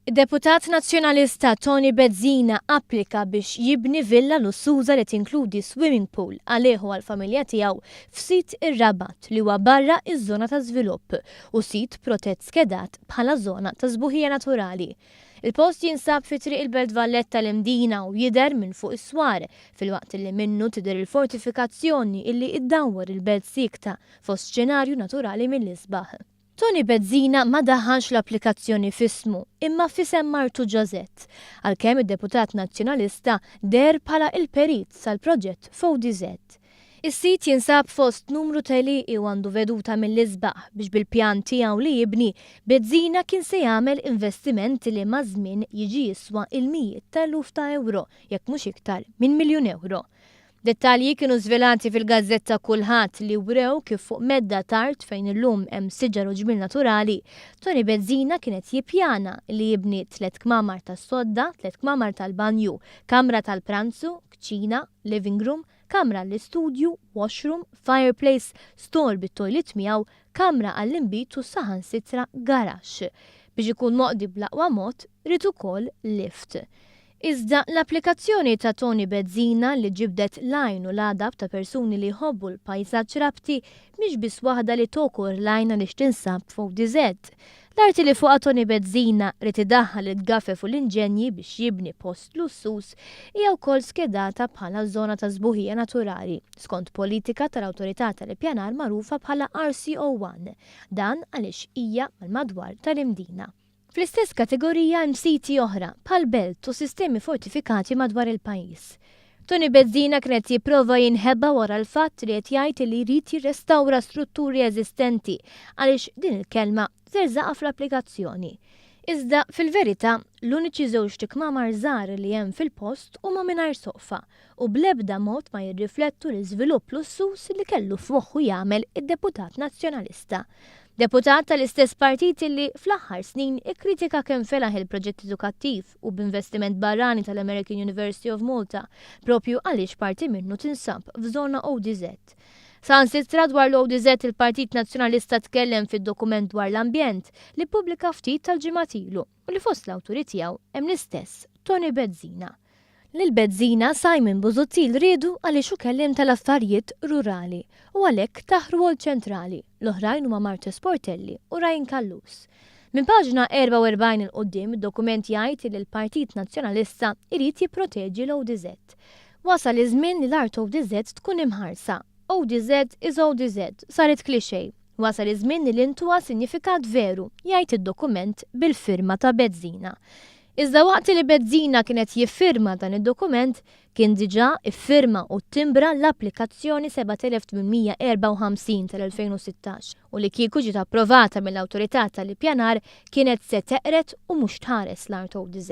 Id-Deputat Nazzjonalista Tony Bezzina applika biex jibni villa lussuża li tinkludi swimming pool għalih u għall-familja tiegħu f'sit ir-Rabat li huwa barra iż-żona ta' żvilupp u sit protett skedat bħala żona ta' sbuħija naturali. Il-post jinsab fi Triq il-Belt Valletta l-Imdina u jidher minn fuq is-swar, filwaqt li minnu tidher il-fortifikazzjoni illi iddawwar il-belt siekta fost xenarju naturali mill-isbaħ. Toni Bezzina ma daħħalx l-applikazzjoni f'ismu imma f'isem martu Ġozett, għalkemm id-deputat Nazzjonalista deher bħala il-perit sal-proġett f'ODZ. Is-sit jinsab fost numru ta' għelieqi u għandu veduta mill-isbaħ biex bil-pjan tiegħu li jibni, Bezzina kien se jagħmel investiment li maż-żmien jiġi jiswa il-mijiet ta' eluf ta' ewro, jekk mhux iktar minn miljun ewro. Dettalji kienu żvelati fil-gazzetta Kulħadd li wrew kif fuq medda t'art fejn illum hemm siġar u ġmiel naturali, Toni Bezzina kien qed jippjana li jibni tliet kmamar tas-sodda, tliet kmamar tal-banju, kamra tal-pranzu, kċina, living room, kamra għall-istudju, washroom, fireplace, stall bit-toilet miegħu, kamra għall-inbid u saħansitra garaxx. Biex ikun moqdi bl-aqwa mod, ried ukoll lift. Iżda l-applikazzjoni ta' Toni Bezzina li ġibdet l-għajn u l-għadab ta' persuni li jħobbu l-pajsaġġ Rabti mhix biss waħda li togħkor l-għajn għaliex tinsab f'ODZ. L-arti li fuqha Toni Bezzina ried idaħħal il-gafef u l-inġenji biex jibni post lussuż hija wkoll skedata bħala żona ta' sbuħija naturali skont politika tal-Awtorità tal-Ippjanar magħrufa bħala RCO1. Dan għaliex hija mal-madwar tal-Imdina. Fl-istess kategorija hemm siti oħra, bħall-belt u sistemi fortifikati madwar il-pajjiż. Toni Bezzina kien qed jipprova jinħeba wara l-fatt li qed jgħid li jrid jirrestawra strutturi eżistenti għaliex din il-kelma żerżaqha fl-applikazzjoni. Iżda, fil-verità, l-uniċi żewġt ikmamar żgħar li hemm fil-post huma mingħajr soqfa u bl-ebda mod ma jirriflettu l-iżvilupp lussuż li kellu f'moħħu jagħmel id-deputat Nazzjonalista, deputat tal-istess partit illi fl-aħħar snin ikkritika kemm felaħ il-proġett edukattiv u b'investiment barrani tal-American University of Malta proprju għaliex parti minnu tinsab f'żona ODZ. Saħansitra dwar l-ODZ il-Partit Nazzjonalista tkellem fid-dokument dwar l-ambjent li ppubblika ftit tal-ġimgħat ilu. u li fost l-awturi tiegħu hemm l-istess Toni Bezzina. Lil Bezzina Simon Busuttil riedu għaliex hu kelliem tal-affarijiet rurali u għalhekk tah rwol ċentrali, l-oħrajn huma Martu Sportelli u Ryan Callus. Minn paġna 44 'il quddiem id-dokument jgħid li l-Partit Nazzjonalista jrid jipproteġi l-ODZ. Wasal iż-żmien li l-art ODZ tkun imħarsa. ODZ is ODZ, saret cliché. Wasal iż-żmien li l-intuha sinjifikat veru, jgħid id-dokument bil-firma ta' Bezzina. Iżda waqt li Bezzina kien qed jiffirma dan id-dokument, kien diġà iffirma u ttimbra l-applikazzjoni 7854 tal-2016 u li kieku ġiet approvata mill-Awtorità tal-Ippjanar kienet se teqred u mhux tħares l-Art ODZ.